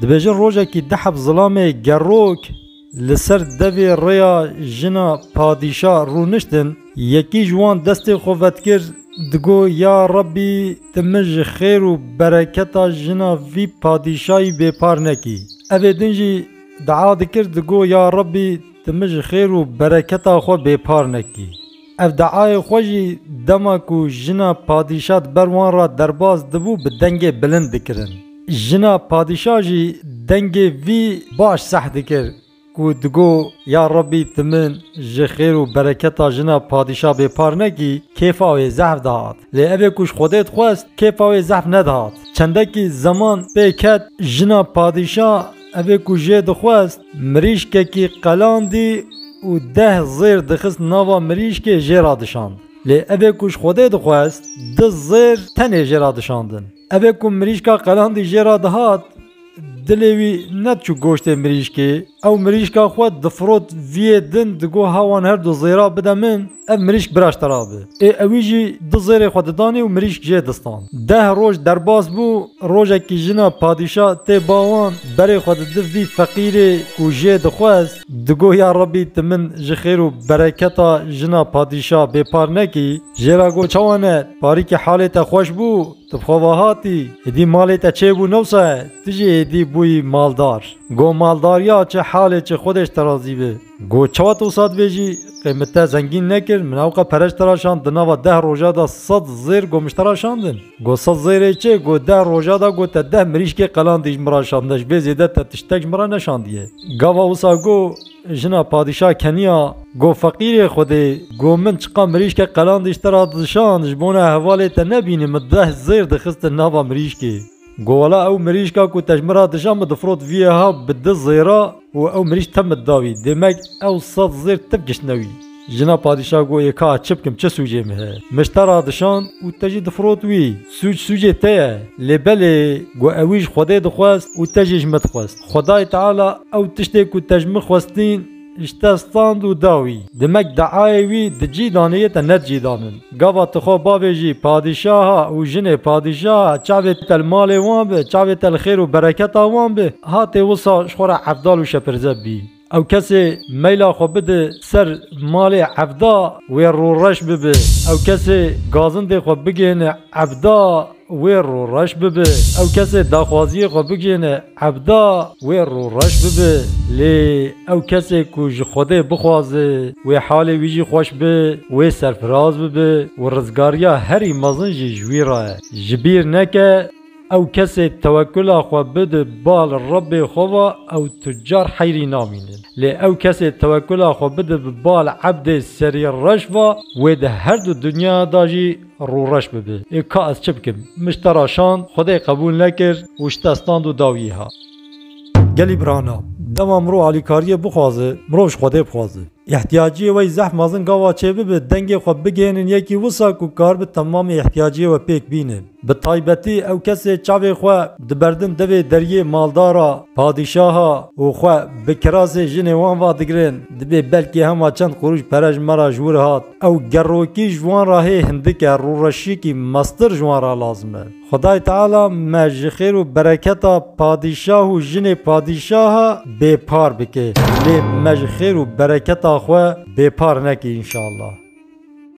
Dibêjin rojekî di heb zilamê gerok li ser devê rêya jina padîşa rûniştin, yekî ji wan destê xwe vetkir digot ya Rabbî tu min ji xêr û bereketa jina vî padîşayî bêpar nekî. Evê din jî dua dikir digot ya Rabbî tu min ji xêr û bereketa xwe bêpar nekî. Ev deayê xwe jî dema ku jina padîşa di ber wan re derbas dibû bi dengê bilind dikirin. Jina padîşa jî dengê vî baş seh dikir ku digot, Ya Rebî tu min ji xêr û bereketa jina padîşa bêpar nekî, kêfa wê zehf dihat. Lê evê ku ji Xwedê dixwest kêfa wê zehf nedihat. Çendekî zeman pê ket jina padîşa, Ev ê ku jê dixwest mirîşkekî qelandî û deh zêr dixist nava mirîşkê jê re dişand. Lê ev ê ku ji Xwedê dixwest du zêr tenê jê re dişandin. Ev ê ku mirîşka qelandî jê re dihat, dilê wî nediçû goştê mirîşkê. Ew mirîşka xwe difirot viyê din digot ha wan her du zêra bide min. Ev mirîşk biraşte ra bi. Ê ewî jî du zêrê xwe didanî û mirîşk jê distan. Deh roj derbas bû, rojekî jina padîşa tê ba wan, berê xwe didi vî feqîrê ku jê dixwest, digo ya Rebî tu min ji xêr û bereketa jina padîşa bêpar nekî. Jê ra got çawa ne, parîkî halê te xweş bû, tu bi xwe ve hatî, êdî malê te çê bû newsa ye, tu jî êdî bûyî maldar. Got maldariya çi halê çi Xwedêş te razî bi. Got çawa tu sat vê jî qêmit te zengîn nekir, min ewqe pereç tiraşand di nava deh roja da sed zêr got mij tiraşandin. Got sed zêrê çi, got deh roja da got te deh mirîşkê qelandî ji min ra şandine ji bê zêde te tiştek ji min ra neşandiye. Gava wisa got jina padîşah keniya got feqîrê xwedê got min çiqa mirîşke qelandî ji te ra dişand ji bona hevalê te nebînim min deh zêr dixistin nava mirîşkê. Got wela ew mirîşka ku te ji min re dija min difirot viyê ha bi du zêra û ew mirîş te min da wî. Demek ew sed zêr te bi kiştine wî. Jina padîşa got yê ka çi bikim çi sûcê min heye. Min ji te re dişand û te jî difirot wî. Sûc sûcê te ye. Lê belê got ewî ji Xwedê dixwest û te jî ji min dixwest. Xwedayê Teala ew tiştê ku te ji min xwestîn, Îşte stand û da wî. Dimek deayê wî di cî danê yê te ne cî danin. Gava tu xwe bavê jî padîşaha û jinê padîşaha çavê te li malê wan bi, çavê te li xêr û bereketa wan bi, hatê wisa ji xwe re evdal û şepirze bî. Ew kesê meyla xwe bide ser malê evda wê rûreş bibe. Ew kesê gazindê xwe bigihîne evda wê rûreş bibe. Ew kesê daxwaziyê xwe bigihîne. Evda wê rûreş bibe lê ew kesê ku ji Xwedê bixwaze wê halê wî jî xweş be, wê serfiraz bibe û rizgariya herî mezin jî ji wî re ye. Ji bîr neke ew kesê tewekula xwe bide bal Rebê xwe ve ew tu car heyrî namîne. Lê ew kesê tewekula xwe bide bi bal ebdê serî reş ve wê di herdu dinya da jî Rû reş bibe. Ê ka ez çi bikim? Min ji te re şand, xwedê qebûl nekir û ji te stand û da wî ha. Gelî birana, dema mirov alîkariyê bixwaze, mirov ji xwedê bixwaze. Îhtiyaciyê we yî zehf mezin gava çê bibe, dengê xwe bigihînin yekî wisa ku karibe temamê îhtiyaciyê we pêk bîne. Bi taybetî ew kesê çavê xwe diberdin devê deriyê maldara, padîşaha û xwe bi kirasê jinê wan vadigirin, dibê belkî hema çend qurûş pere ji me re ji wir hat. Ew gerokî ji wan re hê hindike rûreşiyekî meztir ji wan re lazim e. Xwedayê Teala me ji xêr û bereketa padîşah û jinê padîşaha bêpar bike lê me ji xêr û bereketa xwe bêpar neke înşallah.